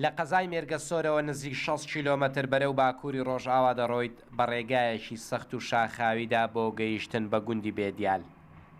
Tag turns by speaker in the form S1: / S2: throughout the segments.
S1: لە قەزای مێرگەسۆرەوە نزیک شەست کیلۆمەتر بەرەو باکووری ڕۆژئاوا دەڕۆیت بە ڕێگایەکی سەخت و شاخاویدا بۆ گەیشتن بە گوندی بێدیال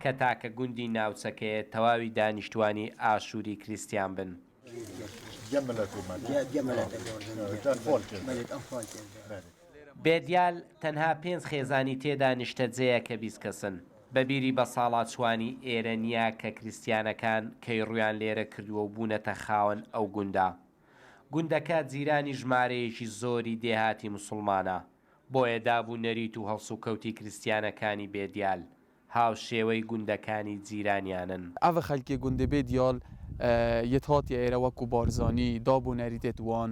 S1: کە تاکە گوندی ناوچەکەیە تەواوی دانیشتوانی ئاشووری کریستیان بن. بێدیال تەنها پێنج خێزانی تێدا نیشتەجێیە کە بیست کەسن. بەبیری بەساڵاچوانی ئێرە نیا کە کریستیانەکان کەی ڕوویان لێرە کردووە و بوونەتە خاوەن ئەو گوندە. گوندەکە جیرانی ژمارەیەکی زۆری دێهاتی موسڵمانە، بۆیە داب و نەریت و هەڵسوکەوتی کریستیانەکانی بێ دیال، هاوشێوەی گوندەکانی جیرانیانن. ئەڤ خەلکی
S2: گوندێ بێ دیال یەت هاتیە ئێرە وەکوو بارزانی، داب و نەریتێت وان،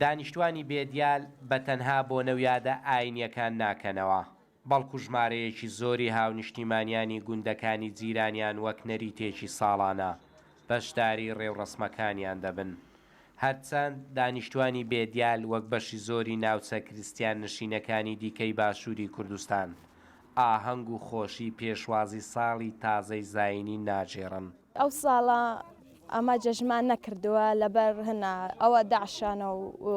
S1: دانیشتوانی بێدیال بە تەنها بۆنە و یادە ئایینیەکان ناکەنەوە، بەڵکو ژمارەیەکی زۆری هاونیشتیمانیانی گوندەکانی جیرانیان وەک نەریتێکی ساڵانە بەشداری ڕێوڕەسمەکانیان دەبن. هەرچەند دانیشتوانی بێدیال وەک بەشی زۆری ناوچە کریستیان نشینەکانی دیکەی باشوری کوردستان، ئاهەنگ و خۆشی پێشوازی ساڵی تازەی زاینی ناگێڕن. ئەو ساڵە
S3: ئەمە جەژنمان نەکردووە لەبەر هەنا ئەوە داعشانە و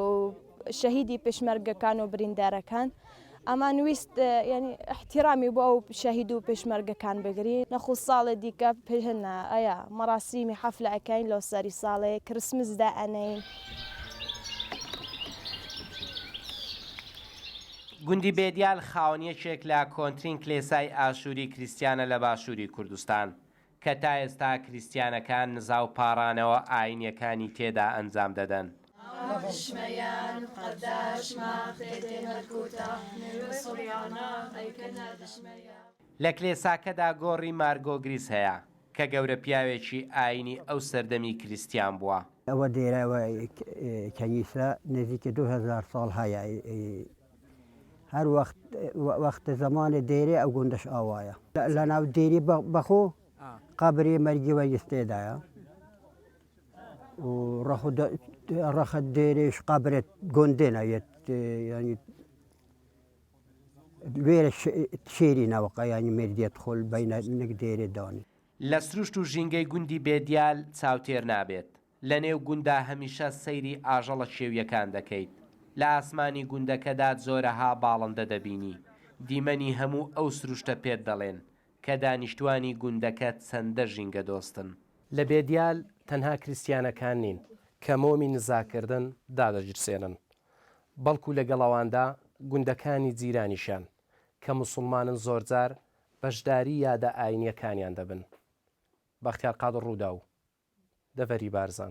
S3: شەهیدی پێشمەرگەکان و بریندارەکان ئەمان ویست یعنی احترامی بۆ ئەو شەهید و پێشمەرگەکان بگری نەخو ساڵێ دیکە پێهنا ئەیە مەراسیمی حەفلە ئەکەین لەو سەری ساڵێ کرسمس دا ئەنەین.
S1: گوندی بێدیال خاوەن یەکێک لە کۆنترین کلێسای ئاشووری کریستیانە لە باشووری کوردستان، کە تا ئێستا کریستیانەکان نزا و پاڕانەوە ئایینییەکانی تێدا ئەنجام دەدەن. لە کلێساکەدا گۆڕی مارگۆگریس هەیە، کە گەورە پیاوێکی ئایینی ئەو سەردەمی کریستیان بووە. ئەوە دێرە و
S4: کەنیسە نزیکە دوو هەزار ساڵ هەیە هەر وەخت وەخت زەمانێ دێرێ ئەو گوندەش ئاوایە لە ناو دێری بەخۆ قەبری مەرگی وەیس تێدایە و ڕەخ ڕەخت دێرێش قەبرێت گۆندێ نایەت یانی لە سروشت و
S1: ژینگەی گوندی بێدیال چاوتێر نابێت. لە نێو گوندا هەمیشە سەیری ئاژەڵە کێوییەکان دەکەیت. لە ئاسمانی گوندەکەدا جۆرەها باڵندە دەبینی. دیمەنی هەموو ئەو سروشتە پێت دەڵێن کە دانیشتوانی گوندەکە چەندە ژینگەدۆستن. لە بێدیال تەنها کریستیانەکان نین کە مۆمی نزاکردن دادەگیرسێنن، بەڵکو لەگەڵ ئەواندا گوندەکانی جیرانیشیان کە موسڵمانن زۆرجار بەشداری یادە ئاینییەکانیان دەبن، بەختیار قادر رووداو، دەڤەری بارزان.